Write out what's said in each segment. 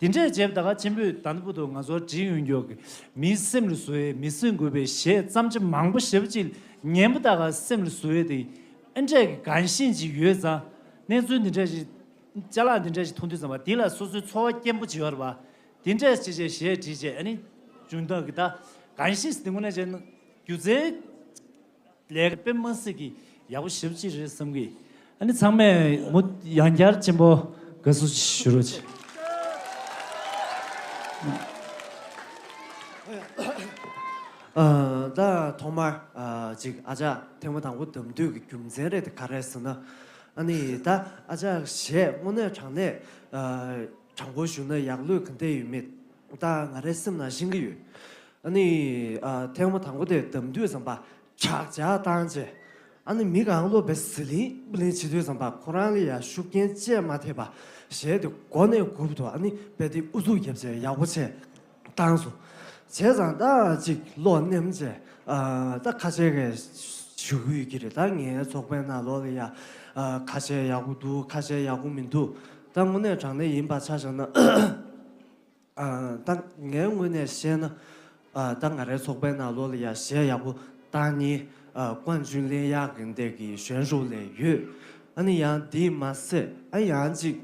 དེ་འདྲའི་རྗེ་བདག་ཆེན་པོས་དང་པོ་ཏུ་ང་ཚོར་དྲིན་གཡོ་འགྱོག་གིས་མིའི་སེམས་ལ་བཟོ་བའི་མི་སེམས་འགུལ་བའི་གཞས་བརྩམས་ཆ་མང་པོ་ཞབས་ཅིག་ཉན་པོ་དག་ག་སེམས་ལ་བཟོ་འོས་ཏེ། ཨེ་འདྲས་ཀྱི་གང་ཞེན་ཅིག་ཡོད་ཙང། གནས་ཚུལ་འདི་འདྲ་ཞིག། བཅའ་ལག་འདི་འདྲ་ཞིག་མཐོང་དུས་ཙམ་པ་དེ་ལ་སོ་སོའི་འཚོ་བ་སྐྱེན་པོ་བྱེད་པར་བ། དེ་འདྲས་ཆེ་ཆེ་གཞས་བྲིས་བྱས་ཨ་ནི། ཅུང་དག་གི་ད་གང་ཞིག་སྡིངས་པ་ན་བྱས་ན། སྒྱུ་རྩལ། ལས་ཀ་དཔེ་མ་སྲིད་ཀྱི་ཡག་པོ་ཞིབ་ཅིག་རེད་བསམ་གི། ཨ་ནི་ཚང་མས་མུ་ཡང་བསྐྱར་ཆེན་པོ་དགའ་བསུ་ཞུ་རོགས་གྱིས། ད་ཐོག་མར་ཅིག་ཨ་ཅག་ཐེངས་མ་དང་པོ་དམ་འདུས་ཀྱི་རྒྱུ་མཚན་རེད་དེ་ག་རེད་ཟེར་ན། ཨ་ནི་ད་ཨ་ཅག་གཞས་དངོས་གནས་དྲང་གནས་དྲང་པོ་ཞུ་ན་ཡག་ལུས་ག་འདི་ཡོད་མེད་ད་ང་རའི་སེམས་ན་ཤེས་ཀྱི་ཡོད། ནི། ཐེངས་མ་དང་པོ་དེ་དམ་དུས་ཙམ་པ་ཁྱག་ཅག་བཏང་རྗེས། ནི་མི་གང་སློབ་པའི་ཟི་ལིང་པུ་ལིང་བྱེད་དུས་ཙམ་པ་ཁོ་རང་ལ་ཡང་ཤུགས་རྐྱེན་སྤྱད་མ་ཐེབས་པ་གཞན་དེ་མགོ་ནས་སྒུབ་ཏུ་ནི་དཔེ་དེབ་ཨུ་ཚུགས་བརྒྱབ་རྗེས་ཡག་པོ་བྱས། བཏང་སོ། བྱས་ཙང་ད་ཅིག་བློ་སྣེམ་བཅས། ད་ཁ་ཆེ་གེ། ཞུ་གི་ཡོད་ཀི་རེད་ད་ངའི་ཚོགས་པའི་ནང་ལོག་ལ་ཡ། ཁ་ཆེ་ཡག་པོ་འདུག་ཁ་ཆེ་ཡག་པོ་མི་འདུག་ད་དངོས་གནས་དྲང་གནས་ཡིན་པ་ཆ་བཞག་ན། ད་ངའི་ངོས་ནས་བཤད་ན། ད་ང་རའི་ཚོགས་པའི་ནང་ལོགས་ལ་ཡ་གཞས་ཡག་པོ་བཏང་ནི། ཀོང་ཇུན་ལིན་གཡག་གི་འདེགས་ཀྱི་གཞོན་ཤོག་ལས་ཡོད། ཨ་ནི་ཡང་དེ་མ་ཟད་ཨ་ཡང་ཅིག།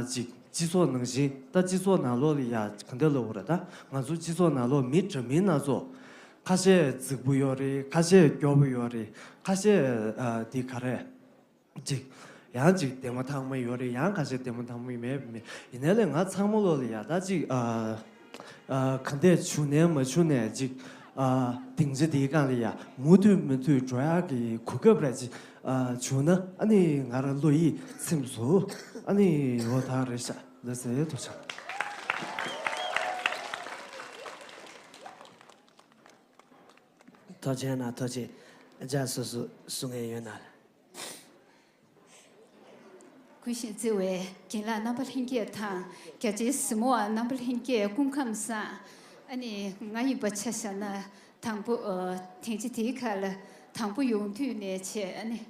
ཅིག་སྤྱི་ཚོགས་ནང་བཞིན་ད་སྤྱི་ཚོགས་ནང་ལོགས་ལ་ཡ་ག་འདེགས་ལོ་ར་ད་ང་ཚོ་སྤྱི་ཚོགས་ནང་ལོགས་མི་འདྲ་མིན་སྣ་ཚོགས། ཁ་ཤས་རྫིག་པོ་ཡོད་རེད་ཁ་ཤས་སྐྱོ་པོ་ཡོད་རེད་ཁ་ཤས་འདི་ག་རེད། ཅིག། ཡང་ཅིག་བདེ་མོ་ཐང་མོ་ཡོད་རེད་ཡང་ག་ཞིག་བདེ་མོ་ཐང་མོ་མེད་མེད། ཡིན་ནའི་ལེ་ང་ཚང་མོ་བློ་ལ་ཡག་ད་ཅིག། ག་འདས་བྱུང་ནའི་མ་བྱུང་ནའི་ཅིག། དིང་རྗེ་འདིའི་སྒང་ལ་ཡ། མུ་མཐུད་མུ་མཐུད་འགྲོ་ཡག་གི་གོ་སྐབས་ར་ཅིག། བྱུང་ན་ཨ་ནི་ང་ར་བློ་ཡིད་ཚིམས་སུ། ཨ་ནི་ཡོ་ད་རེ་ཤ་ལེ་ཟེ་དུ་ཆགས། ཐོ་ཆེན་ན་ཐོ་ཆེ་རྒྱ་སོ་སོ་སུ་ངན་ཡོད་ན་ལ། གུས་ཤིང་བརྩེ་བའི་རྒན་ལགས་རྣམ་པ་ལྷན་རྒྱས་དང་རྒྱ་ཆེའི་གཟིགས་མོ་བ་རྣམ་པ་ལྷན་རྒྱས་སྐུ་ཁམས་བཟང། ཨ་ནི་ང་ཡིན་པ་ཆ་ཤ་ན་དང་པོ་དེང་ཆེ་དེའི་ཁར་དང་པོ་ཡོང་དུས་ནས་ཆེ་ཨ་ནི།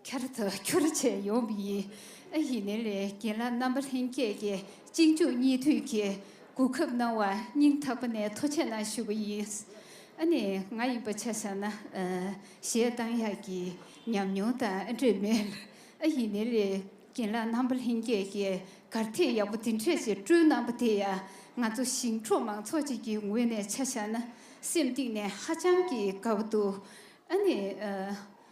ཁྱར་དུ་ཁྱོར་བྱས་ཡོང་བ་ཡིན། ཨ་ཡེ་ནེ་ལེ་རྒན་ལགས་རྣམ་པ་ལྷན་རྒྱས་ཀྱིས་གཅིག་མཇུག་གཉིས་མཐུད་ཀྱིས་གོ་སྐབས་གནང་བར་སྙིང་ཐག་པ་ནས་ཐུགས་ཆེ་གནང་ཞུ་བ་ཡིན། ཨ་ནི་ང་ཡིན་པ་ཆ་ས་ན་གཞས་གཏང་ཡག་གི་ཉམས་མྱོང་དང་ཨ་འདྲེས་མེད། ཨ་ཡེ་ནེ་ལེ་རྒན་ལགས་རྣམ་པ་ལྷན་རྒྱས་ཀྱིས་གར་ཐིགས་ཡག་པོ་འདི་འཕྲད་ཆེད་བསྐྲུན་གནང་བ་དེ་ཡང་ང་ཚོ་ཞིང་འབྲོག་མང་ཚོགས་ཅིག་གི་ངོས་ནས་ཆ་ས་ན་སེམས་གཏིང་ནས་ཧ་ཅང་གི་དགའ་བོ་འདུག་ཨ་ནི།